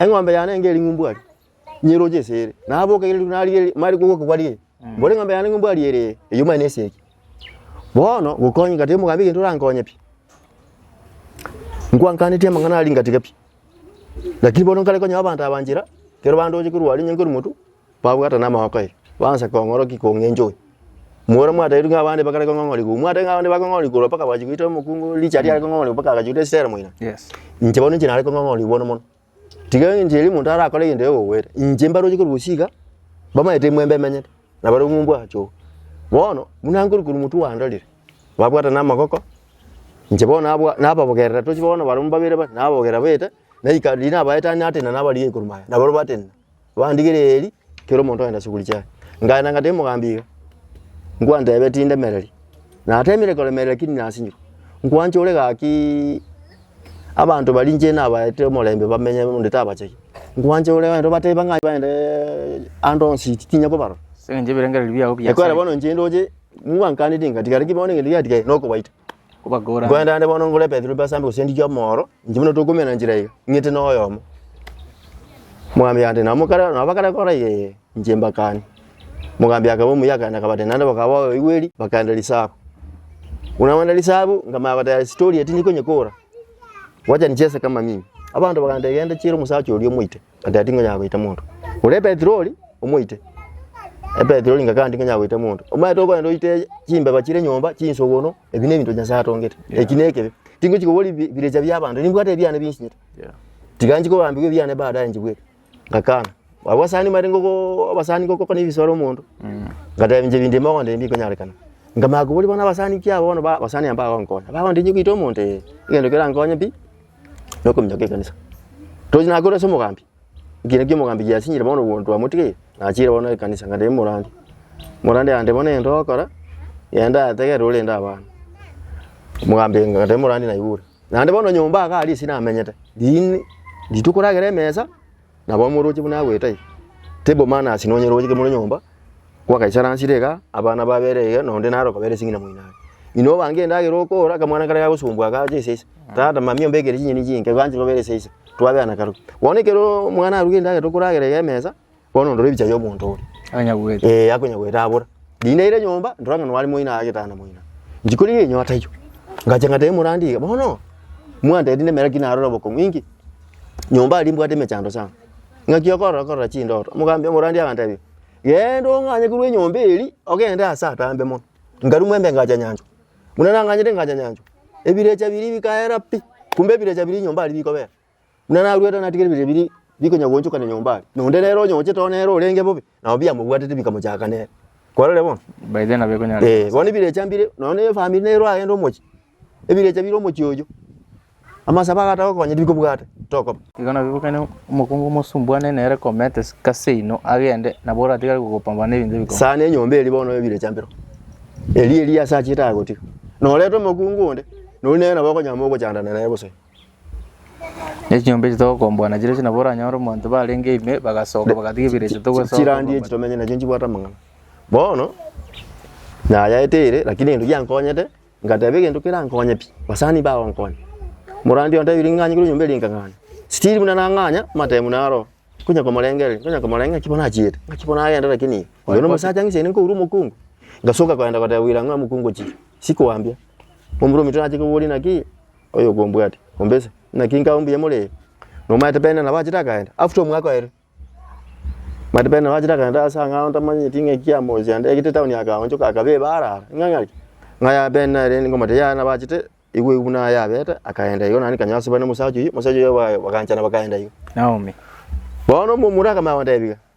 Eng'ombe yane enga eri ng'umbu aria, nyeroche ase ere, naboke ere rituko narigia eri- mare koboka kwaria eri, mbore eng'ombe yane ng'umbu aria ere, eyio manye nesegi. Bono gokonyeka tari omogambi egento orankonye pi, nkwankanetie amang'ana aria ngatiga pi, lakini bono nkare konyea abanto aba nchera, ekero bandoche korwa aria onye nkorimotu. Babwatana amagoko aye, baansa kong'orokia kong'encha oyo. Moro mwatairwe ng'a abande bakare kong'ong'origwa, obo mwatairwe ng'a abande bakong'ong'origwa korwa mpaka bachia goita omokungu o Richard are kong'ong'origwa mpaka agachia goita Esitera moino. Yes. Inche bono inche nare kong'ong'origwa bono mono. Tiga enchera eria omonto arakore egento egokogwera, inche mbaroche korwa gose iga, bamaete emwembe emenyete, na bare omwa ombwa ache oo. Bono, buna nkorwa korwa motwe gwandorire, babwatana amagoko, inche bono nabwa nababogerera tochia bono barabwo babere bare, nababogerera baete, naika riria nabaete natenena nabarigia korwa magega, naboro batenena. bandigereiri kera omonto ogenda chiguri chiaye. Ngaenda ngatebia omogambi iga, nkwantebia tindemereri, natemire koremereri lakini nasinywe. Nkwancha ore gakiiiii abanto baria inche nabaete omorembe bamenye onde tabachegi. Nkwancha ore abanto bateba ng'a baendeeee ande onsi tinya kobarora. Ase eng'encho ebirengererio biao bi'Nyasae. Ekware bono inche ndoche, mwankaneti ngatiga, lakini bono egento giatigaire nokobaita. Kobakora ande. Nkoenda ande bono ngore Petero ebasambe gose ndigie omoro, inche buna tokoumera nchera iga, ing'ete noyomo. Mogambi ati, nabo mokare nabo bakare kora iga ee, inche mbakane. Mogambi akaba omuya akaenda akabatebia naende bakaba babaigweri, bakaenda risabu. Buna baenda risabu, nkamanya goteba story eye tinyikonyekora, wacha nichese kama mimi. Abanto bakantebia genda chiera omosacha oria omoite. Agati ngonyara goita monto ore epetroli omoite epetroli ngaka ndi ngonyara goita monto omanyete okogenda oite chimbeba chire nyomba chinsogono ebi nebinto nyasaye atongete eki nekebe tingochi kobori bi- birecha bia abanto nimbwate ebiane binchinyete tiga nchi kobambigwa ebiane baadaye nchibweke ngakana abwo asani mare ngogo abasani ngogo kona ebisore omonto ngatebi nche ebinto ebimo ndebi bikonyarekana nkamanya kobori bono abasani ki aba bono ba abasani aba bagonkonya bagontebi goita omonto ee egento kerankonye pi nokominyoka ekanisa. Tochi nakore ase omogambi, ekina kia omogambi giasinyire bono obo twamotigeire, nachire bono ekanisa ng'a tebe morande. Morande yande bono egento ogokora, genda yategerera orende abana. Omogambi ng'a tebe morande naibure. Naende bono nyomba iga aria ase namenyete, riini rituko ragere emesa. Nabo omoroche buna agwete aye, table manners nonyore gochia kimore nyomba, gwakaisaransire iga, abana babere iga, na onde naro okabera esegi na moino are. Inwe obange endagera okora, akamwana karia gagosumbwa aka ache eseisa, tata, mami ombekere chinyeni chinke, igo anchire obere eseisa, twabeana kare. Bono ekero omwana aruge endagera okoragera iga emesa, bono ondore ebicha bia omonto oria. Anyagwete. Ee, akonyagwete abora. Rinde aire nyomba, ndora ng'a nware moino ake tata na moino. Inche kori riria enyio ataiyo, ngacha ngatebia morandi iga, bono, mwantebi nemera ki narore obokong'u, inki? nyomba aria mbwate emechando sana, ng'aki okorora korora chindoto, omogambia omorandia agantebia, genda ong'anye korwa enyomba eria ogende ase atambe mono, nkarumwa embe ngacha nyanchwa, buna nang'anyete ngacha nyanchwa, ebirecha biria bikaera pi, kumbe ebirecha biria nyomba aria bikobera, buna narwete natigete ebirecha biria bikonya goonchokana nyomba aria, na onde nere onyochete oo nere orenge bobe. Nabo biamobwatete bikamochaka nere. Kwarorire bono? By then nabeko nyare. Eh, bono ebirecha mbire, nonya ne family nero agende omochie. Ebirecha bire omochie oyo. Amasabo agata gokonya tibikobwata, tokoba. Igo nabio bokane omokungu omosumbuane nere komete sika seino agende, nabo oratigare gokopambana nebinto ebikong'u. Sana enyomba eri bono ebirecha mbiro. Eri eri ase achiete agotiga. Norete omokungu onde, nori nere nabo okonyama ogochandana naye gose. Na echinyomba echi togokomboa nachire ase nabo oranyore omonto barenge ime, bagasoka bagatiga ebiro echi togosoka. chirandi echi tomenye nachio nchibwate amang'ana. Bono, nayaete ere lakini egento giankonyete, ngateba egento kerankonye pi, basani bagonkonya. Morandi oyo nantebire ng'anye korwa enyomba eria nkang'anya, still buna nang'anya, amatemu buna aroro, nkonya komorengereria, nkonya komorenge ng'aki bono achiete, ng'aki bono agende lakini oyo nomosacha ng'ise ainde nkourwa omokungu, ngasoka kogenda koteba bwira ng'a omokungu ochire, sikoambia. Omorwoti nache koboria naki. oyo okombwate ombese, naki nkabe mbuya more nomanyete bende nabo achete akagenda after omwaka oye, omanyete bende nabo achete akagenda ase angao ntamanyeti ng'a ekiya mosi ande egete town akaonchoka akaba ebare are ng'a ng'aki, ng'a yaya bende nere ngomanyete yaya nabo achete igo igo buna yabete akagenda igo naende kanywa asubana na omosacha oyio, omosacha oyio bwa bagaanchana bakaenda iga. Bono omomura akamanya kondebia iga,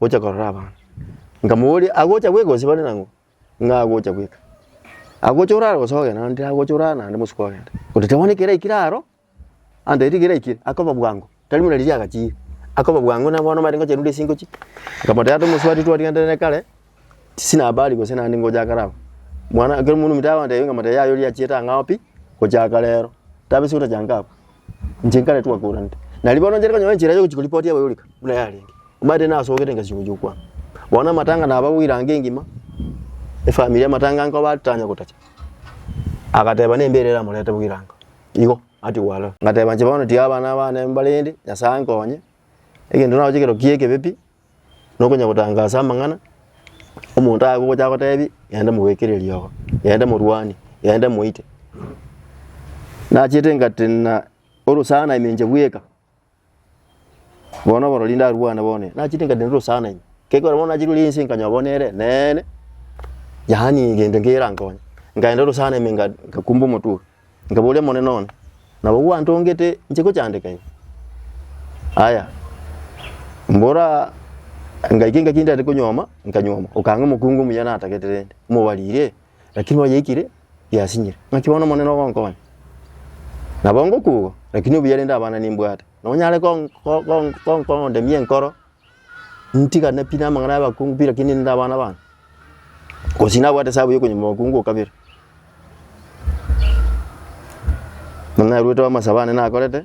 gocha korora abana. Nkamobooria, agocha gweka gose bare nang'o? Ng'a agocha gweka. Agocha orare gose ogenda? Naende tari agocha orare naende bosuku ogenda. Ototeba bono ekero aikire aro, antaete ekero aikire, akoba bwango, tari buna riria agachiire, akoba bwango na bono omanyete ngocha rundi ase ingochi. Nkamotebia ata omosubati twarigetanire kare, tinaba aria gose naende ngocha kare abwo. Mwana ekero omonto ominto agontebia nkamotebia yaya oria achiete ang'ao pi, gochaka rero, tabe ase otachanka abwo. Inche nkare twakoranete. Na ribono nchare konyora enchera yogochia koripoti abo yorika buna yarenge. Omanyete nasogete engasio gochia okwana. Bono amatanga naba goiranga engima, efamiri amatanga nkoba titanya gotacha. Agateba nembe ere eramorete goiranga. Igo ati gwarora. Ngateba inche bono tiga abana bane mbarende, Nyasae nkonye. Egento naroche ekero kiekebe pi, nokonya gotangaasa amang'ana, omonto aye gogocha agotebi gende mogwekere riogo, gende morwanie, gende moite. Nachiete ngati na orosana ime inche bweka, bono oborori ndarwane bono ime, nachiete ngati norosana ime, kegora bono nachire ore ense nkanyora bono nere neene, yaani gento nkerankonye, nkaenda orosana ime nga nkakumba omotwe oo. Nkaboria, Omonene one, nabo gwantongete nche gochandeka iga? Aya, mbora ngaike engaki ndare konyuoma, nkanyuoma, okanga omokungu omuya natagete rende, omobarire, lakini oyeikire yasinyire. Naki bono Omonene ogonkonya? Nabo ngokugo, lakini obuya rende abana nimbwate, nonyare gon- gon- gon- gondemia enkoro. ntigane pi namang'ana y'abakungu pi lakini ninde abana abana, gose nabwate esabu ya okonyima obokungu okabere. Buna naruete amasabo ane nakorete,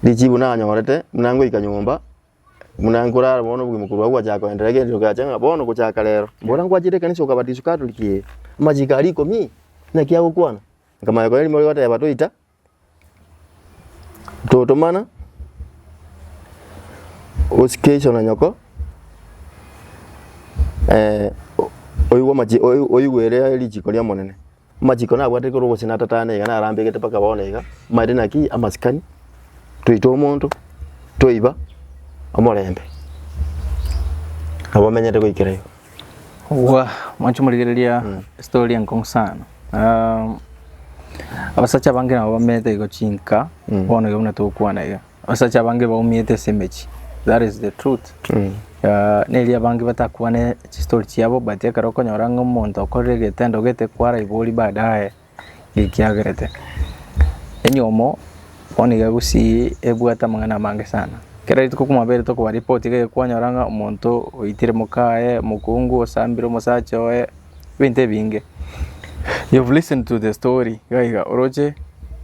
richibu nanyorete buna ngoika nyomba, buna nkorara bono obogima korwa agwo gwachaka koenderea egento kiacha ng'a bono gochaka rero, mbora ngwachire ekanisa okabatiswa catholic ee, amachiko aria ikomi? Naki agokwana? Nkamanya koirema oria ogoteba toita. Totomana osike iso na nyoko, oigwe amache oigwere richiko ri'Omonene. Amachiko nabwate ekero gose natatane iga narambegete mpaka bono iga, maete naki amasikani, toite omonto, toiba omorembe, nabo omenyete goikera igo. Obua mwanche morigereria story enkong'u sana. Abasacha abange nabo bamenyete igo chinka bono iga buna togokwana iga. Abasacha abange baumiete ase emechie that is the truth. Nerio abange batakwane chistory chiabo but ekero okonyora ng'a omonto okorire egetendo gete kwaraibori baadaye. gekiagerete. Enyomo bono iga gosii ebwate amang'ana amange sana. Kera rituko kwamabere tokoba report iga ekwanyora ng'a omonto oitire mokaye, omokungu osambire omosacha oye, ebinto ebinge. You have listened to the story iga iga oroche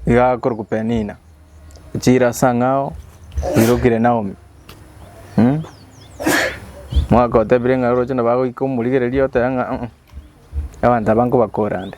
iga akorokwa Penina, ochire ase ang'ao oirokire Naomi mwagotebire ng'a oroche nabo agoika omorigereria oteba ng'a abanto aba nkobakora nde.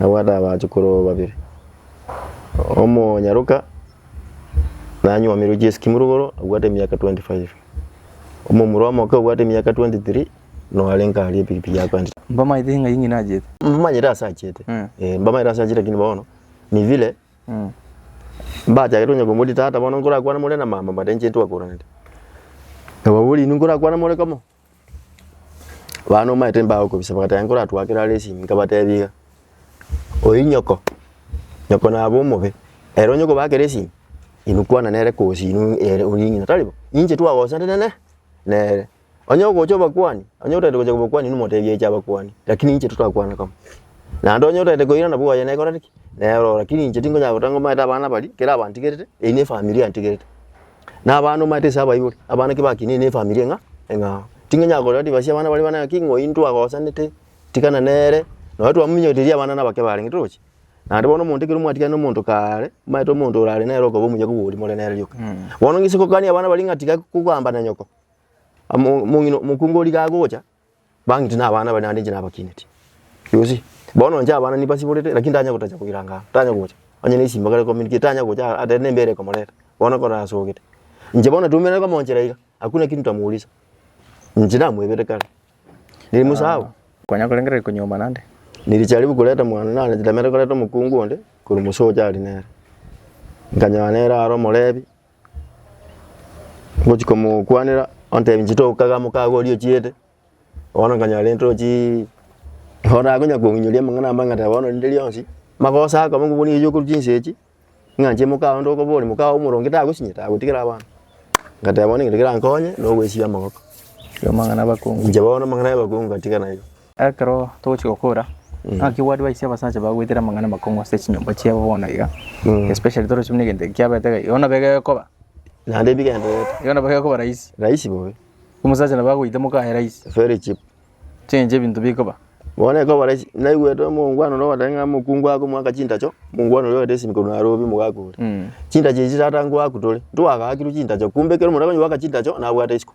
Nabwate abachukuru babere, omonyaroka nanyomirwe chiesi kimurugoro abwate emiaka twenty five, omomura omoke obwate emiaka twenty three noarenge aria epikipiki yakwendire. Mbamaete ng'ai ng'ina achiete? Mbamanyete ase achiete, eh, mbamanyete ase achiete lakini bono ni vile mbachagete onye komoria tata bono nkorakwane more na mama but inche intwakuranete. Nabo bono inwe nkorakwane more komo. Bana omanyete mbagokobisa bagateba nkoratwakere are esimi nkabatebia iga, oyi nyoko, nyoko nabe omobe, ere onye okobakera esimi inwe kwana nere kosi inwe ere oria ng'ina tari bo, ninche twagosanire nene nere. Onye ogocha obakwani, onye otagete gocha kobakwani inwe motebie ache abakwani, lakini ninche totakwana kamo. Naende onye otagete koira nabo oye nekoreti ki? Nero oo, lakini inche tinkonyara goteba ng'o omanyete abana baria, kera abantigerete, eyi ne efamiri yantigerete. Nabaano omanyete ase abaibori, abana naki bakinire nefamiri ng'a eng'ao. Tingenya korera ribaga riabana baria banene ng'aki ng'ai ntwagosanete, tikana nere, nonye twamominyoretie riria abana nabake barenge toroche. Naende bono omonto ekero mwatigana nomonto kaare, omanyete omonto orare nere okoba omuya kogwa oria more nere rioka. Bono gese gokania abana baria ng'a tiga kogamba na nyoko, amo omong'ina omokungu origa agocha. Bang'iti nabana bare naende inche nabakineti. Yusi, bono inche abana nibasiborete, lakini tanya gotacha koiranga aa, tanya gocha. Onye ne esimba kare komini ki, tanya gocha aa, tari nembera ekomoreta. Bono ekero asogete, inche bono natwomerane komonchera iga, hakuna kitu nitamuuliza. Inche namoebete kare. Nirimosao. Konya korengera riko nyuma naende. Niricharibu koreta mwane, nare ntamerete koreta omokungu onde, korwa mosee oria aria nere. Nkanyora nere aro omorebi, Ngochia komokwanera ontebia inche toka iga mokago oria ochiete, bono nkanyora rende tochii orakonya kominyoria amang'ana amba ng'a teba bono rinde rionsi, magoso akoba ng'a obonie okoruta chinsa echi, ng'a inche mokago onde okoboria, mokago omoronge tagosinye, tagotigera abana. Ngateba bono egento kerankonye, nogwesibia amagoko. Inche bono amang'ana y'abakungu ngatiga nayio. Ekero togochia gokora, naki bwari baise abasacha bagwetire amang'ana amakong'u ase chinyomba chiabo bono iga, especially torochi buna egento eke kiabete iga, igo nabo egekoba, Naende bigendererete igo nabo egekoba rahisi, rahisi bobe, omosacha nabo agoita moka aye rahisi, very cheap. Echi enche ebinto bikoba. Bono ekoba rahisi, naigwete omongwana oria ogoteba ng'a mokungu akomoaka chintacho, mongwana oria ogete esimi korwa Nairobi mogaaka ore. Chintacho echi tata ngoakwa tore, ntwagaakirwe chintacho, kumbe ekero omonto akonye goaka chintacho, nabwate isiko.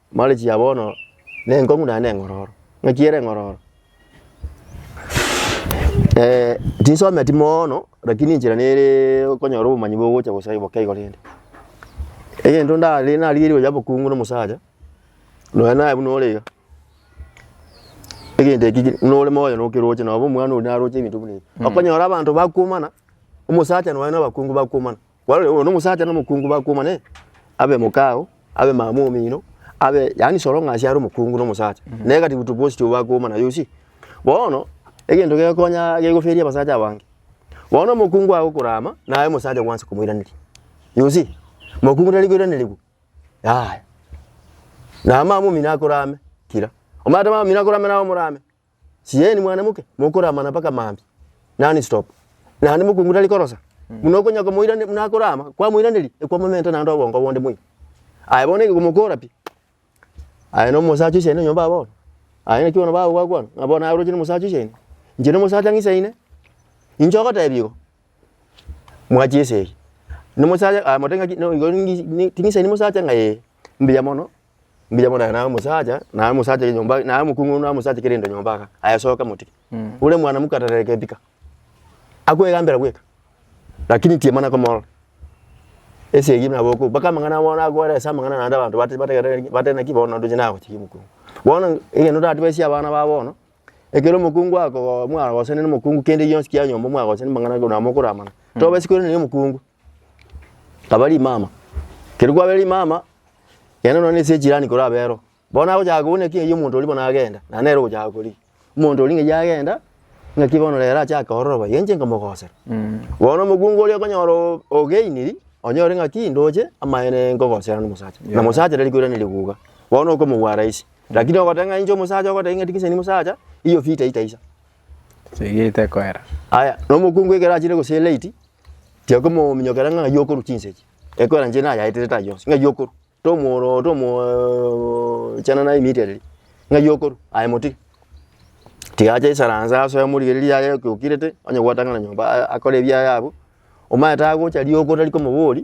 Marichi ya bono nenkong'u naende neng'ororo. Ng'aki ere eng'ororo tinsometi moono rakini enchera nere okonyora obomanyi bogocha gosae boke igo rende. Egento ndare narigeire oyobe okungu na omosacha, nonya naye buna ore iga, egento ekio buna ore moyo nokeroche nabo omwana oria naroche ebinto buna ebi. Okonyora abanto bakuomana, omosacha nonya na abakungu bakuomana. Kwarorire bono omosacha na omokungu bakuomana ee, abe mokao, abe mama mwomino, abe yaani soro ng'a ase are omokungu na omosacha. Na egatigu tu bosi tu bakuomana you see. Bono, egento gegokonya gegoferia abasacha abange, bono omokungu agokora ama, naye omosacha gwansa komoiraneria. You see, mokungu tari koiranerigwa, yaya. Na mama mwomino akore ame, kira. Omanyete mama mwomino akore ame naye omorame. Sieni mwanamoke, mokorama na mpaka mambia, nonstop, naende mokungu tari korosa, buna okonya komoiraneria, buna akorama, kwamoiraneria, ekwa momenta naende obongo bonde moino. Aye bono ege komokora pi, aye na omosacha oise aino nyomba bono, aye naki bono bago gwakwana, ng'a bono naye oroche na omosacha oise aino, inche na omosacha ng'ise aine, inche ogotebia igo, mwachi esegi, na omosacha, aye motebi ng'aki, nigo ningi, ting'ise aine omosacha ng'a ee, mbuya mono. mbuya bono aye naye omosacha, naye omosacha oye nyomba, naye omokong'u oyio naye omosacha kerende nyomba iga, aye soka motike. Ore mwanamke atarere kebika, akwegambera bweka, lakini inche timana komorora. Ase eyio nabo okobua, mpaka amang'ana abo bono agoera ase amang'ana naende abanto bate bategereri bateba naki bono ndoche nagochiki omokong'u. Bono egento otatibesie abana babo bono, ekero omokong'u akogo mwagosana na omokong'u kende gionsi kia nyomba mwagosana amang'ana korwa mokoramana, tobesi korwa nere omokong'u. Nkaba rimama, ekero kwabeire rimama, yaani nonya na ase echirani kore abero, bono nagochaka kobuna ekiagera ekiya omonto oria bono agenda, naende nere ogochaka koria. Omonto oria ng'ai agenda, ng'aki bono rero achake ororo boigo, inche nkomogosera. Bono omokungu oria okonyora oo ogainiri, onyore ng'aki ndoche amaene nkogosera na omosacha, na omosacha tari koirana riguga, bono okomogwa rahisi. Lakini ogoteba ng'a inche omosacha ogoteba ng'a tiga inche nimosacha, iyo vita itaisa. Segete koera. Aya, na omokungu ekero achire gose late, tiakomominyokera ng'a ng'ai okorwa chinsegi, ekoera inche nayaetire tari yonsi, ng'ai okorwa? Tomoro tomoo chana naye immediately, ng'ai okorwa? Aye motige. Tiga ache esaranse asoe omorigereria aye oke okirete, onye gwatang'ana nyomba a- akore ebiaye abwo, omanyete agocha rirogo tari komoboria.